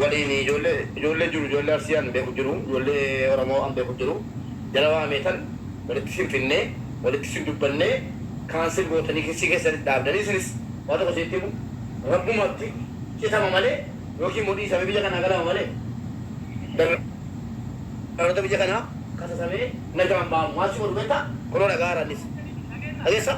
waliin ijoollee ijoollee jiru ijoollee arsii an beeku jiru ijoollee oromoo an beeku jiru jara waameetan walitti sin finnee walitti sin dubbannee cancel gootanii kessii keessanitti dhaabdanii isinis waa tokko isinitti himu rabbumatti citama malee yookiin immoo dhiisamee biyya kanaa galama malee dallaloota biyya kanaa kasasamee nagaan ba'amu maal si godhu beektaa kunoo dhaga'aara annis dhageessaa.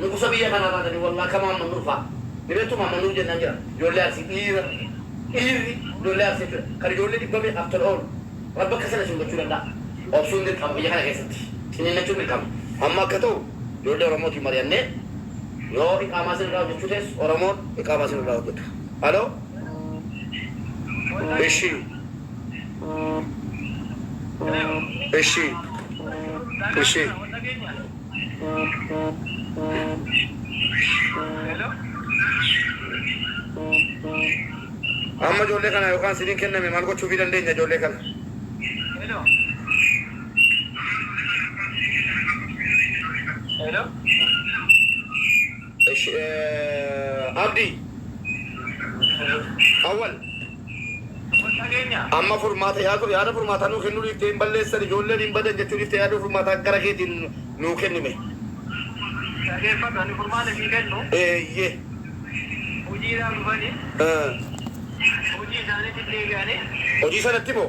Nugusa biyya kanaa taatanii wallah kama amma nurfa hiretu mama nuun jennaan jira ijoollee arsii dhiira dhiirri ijoollee arsii jechudha kan ijoollee dhibba meeqaaf tola oolu rabbi akka sana isin gochuu danda'a obsuun dirqama biyya kana keessatti ciniinnachuun dirqama amma akka ta'u ijoollee oromootiin mari'annee yoo iqaamaa isin irraa hojjechuu teessu oromoon iqaamaa isin irraa hojjeta halo ishii ishii ishii Amma ijoollee kanaa yookaan siniin kenname maal gochuufii dandeenya ijoollee kana? Eshi Abdi. Awwal. Amma furmaata yaaduu yaada furmaataa nuu kennuu dhiiftee hin balleessan ijoolleen hin badan jechuu dhiiftee yaada furmaataa gara keetiin nuu kenni mee. Dhageeffadhu ani furmaata sii kennu. Eeyyee. Hojiidhaaf dhufanii. Hojii isaaniitti hin deebi'anii. Hojii sanatti moo.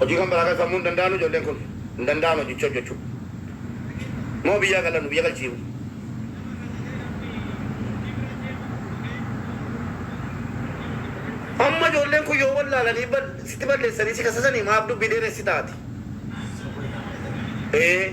Hojii kan biraa kan sammuu hin danda'anu ijoolleen kun. Hin danda'an hojicha hojjechuu. Moo biyyaa galan nu biyya galchiimu. Amma ijoolleen kun yoo wallaalanii bal sitti balleessanii si kasasanii maaf dubbii dheeressita ati? Ee.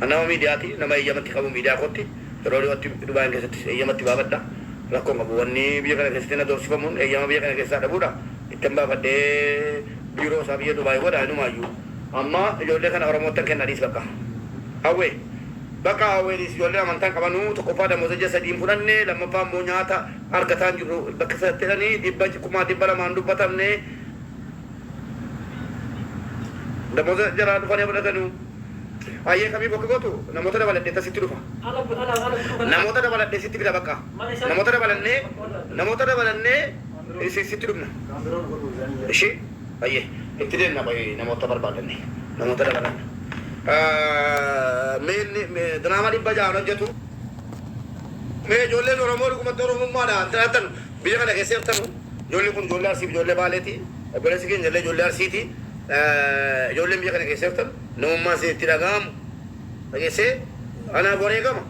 An nama miidiyaati, nama eeyyama itti qabu miidiyaa kootti, yeroo dhiyootti Dubaayin keessattis eeyyama itti baafadha. Rakkoo hin qabu. Wanni biyya kana keessatti na doorsifamuun eeyyama biyya kana keessaa dhabuudha. Ittan baafadhee biiroo isaa biyya Dubaayi godha inumaayyuu. Amma ijoollee kana Oromoottan kenna dhiis bakka. Hawwee. Bakka Hawwee dhiis ijoolleen amantaa hin qabanu, tokkoffaa damooza ji'a sadii hin fudhanne, lammaffaa immoo nyaata argataa hin jirru. Bakka sirratti jedhanii dhibba, kumaa dhibba lamaa hin dubbatamne. Damoza jaraa dhufani fudhatanu Ayyee kamii bokka gotu namota dabaladhe ta sitti dhufa namota dabaladhe sitti fida baqqa namota dabalanne namota dabalanne isin sitti dhufna ishi ayyee itti demna qoyi namota barbadanne namota dabalanne mee inni diraama dhibba ja'an hojjatu mee ijoolleen oromoo dhugumatti oromummaadhaan jiraattan Biyya kana keessa jirtanu ijoolleen kun ijoollee Arsiif ijoollee Baaleeti. Obboleessi keenya illee ijoollee Arsiiti. Ijoolleen biyya kana keessa jirtan namummaan isin itti dhaga'amu dhageessee anaaf wareegama.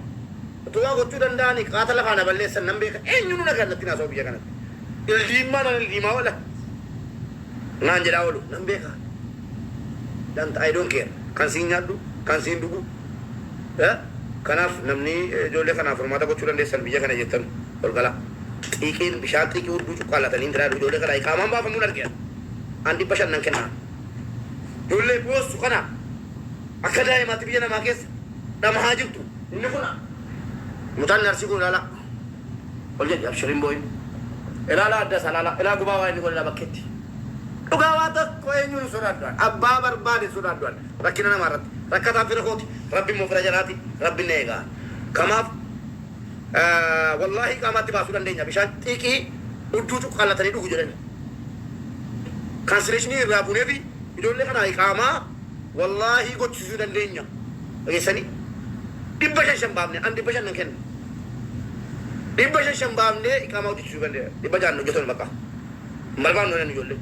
Utuu waa gochuu danda'anii qaata lafaa na balleessan nan beeka. Eenyunuu nagaan natti hin haasa'u biyya kanatti. Ildiimmaa nan ildiimaa oola naan jedhaa oolu nan beeka. Danta I don't care. Kan siin nyaadhu, kan siin dhugu. Kanaaf namni ijoollee kanaaf furmaata gochuu dandeessan biyya kana jirtanu. Golgala, Xiiqiin, Bishaan Xiiqii Hudduu Cuqqaallatanii Ingiraa Jedhu Ijoollee Kanaa Iqaamaan Baafamuun Arge Ani, An 500 Nan Kenna Ani. Ijoollee Boossu Kana Akka Daa'imaatti Biyya Namaa Keessa Dhamahaa Jirtu. Inni Kun A. Mucaan Inni Arsii Kun Ilaalaa Ol Jedhi Abshir Hin Boo'in Ilaalaa Adda Isaa Ilaalaa Ilaa Gubaa Waa Inni Godhe Ilaa Bakkeetti. Dhugaa Waa Tokko Eenyuun Hin Sodaadhu An Abbaa Barbaade Hin Sodaadhu An Rakkina Namaa Irratti Rakkataan Fira Kooti Rabbi Immoo Fira Jaraati Rabbin Na Eega An Kamaaf Wallaahii qaamaatti baasuu dandeenya bishaan xiiqii hudduu cuqqaallatanii dhugu jedhani. Kaansileeshinii irraa buuneefi ijoollee kanaa iqaamaa wallaahii gochisiisuu dandeenya dhageessanii. Dhibba shan shan baafne an dhibba shan nan kenna. Dhibba shan shan baafnee iqaamaa hojjechiisuu dandeenya. Dhibba ja'an hojjetoon bakka hin barbaannu jedhan ijoollee.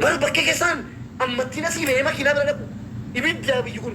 Bar bakkee kessaan ammattiin asii ba'ee makiinaa bira dhaqu ibiddaa biyyi kun.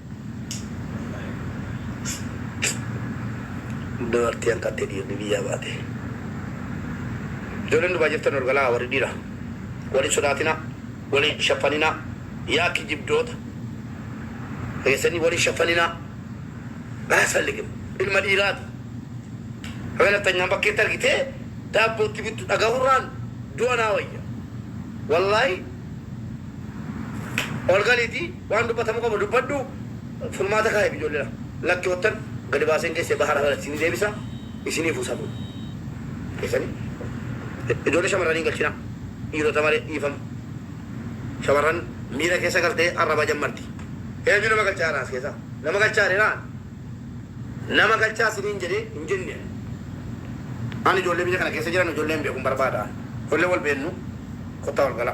Dubartii hanqattee dhiirri biyyaa baate. Ijoolleen Dubai jirtan ol galaa warri dhiiraa. Wal hin sodaatinaa. Wal hin shaffaninaa. Yaa kijibdoota. Keessanii wal hin shaffaninaa. Aasfalligim. Ilma dhiiraati. Haga nafxanyaan bakkeetti argitee daabboo itti bittu dhagahurraan du'a naa wayya. Wallaahi ol galiitii. Waan dubbatamu qabu dubbadhu furmaata kaa'iif ijoolleedha lakkiottan gadi baaseen geesse bahar alal isinii deebisa isiniifuu safuu keessani ijoollee shamarranii hin galchinaa dhiirota malee dhiifama shamarran miira keessa galtee arraba jammarti eenyu nama galchaa jira as keessa nama galchaa jedhee naan nama galchaa isiniin jedhee hin jenne ani ijoollee biyya kana keessa jiran ijoollee hin beeku hin barbaada ijoollee wal beennu kottaa wal gala.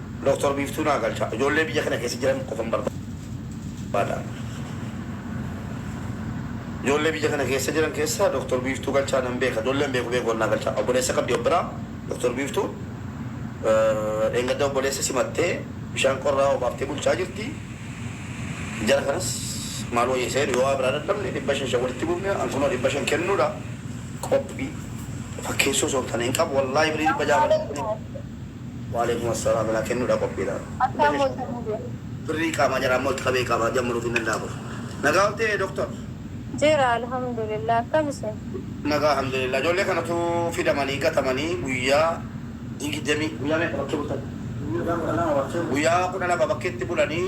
Doktar Biiftuu naa galchaa. Ijoollee biyya kana keessa jiran qofan barbaada. Ijoollee biyya kana keessa jiran keessaa Doktar Biiftuu Galchaa nan beeka. Ijoollee hin beeku beeku naa galchaa. Obboleessa qabdi of biraa Doktar Biiftuun. Dheengadda obboleessa simattee bishaan qorraa obaaftee bulchaa jirti. Jara kanas maal wayya isa jedhu yoo waa biraa dadhabne dhibba shan shan walitti buufne an kunoo dhibba shan kennuudha. Qophii fakkeessuu osoo hin taane hin qabu wallaahi birrii dhibba ja'a malee. Waaleykum assalam naa kennudha qophiidha Akkaa Bashasha moota mube. Birrii qaamaa jaraa immoo itti qabee qaamaa jammaruuf hin danda'a kun. Nagaa oltee Doktar. Jira alhamdulillah akkam isin. Nagaa alhamdulillah ijoollee kanatu fidamanii gatamanii guyyaa digidamii. Guyyaa meeqa bakkee bultan? Guyyaa kudha lama bakkee bultan. Guyyaa kudha lama bakkeetti bulanii.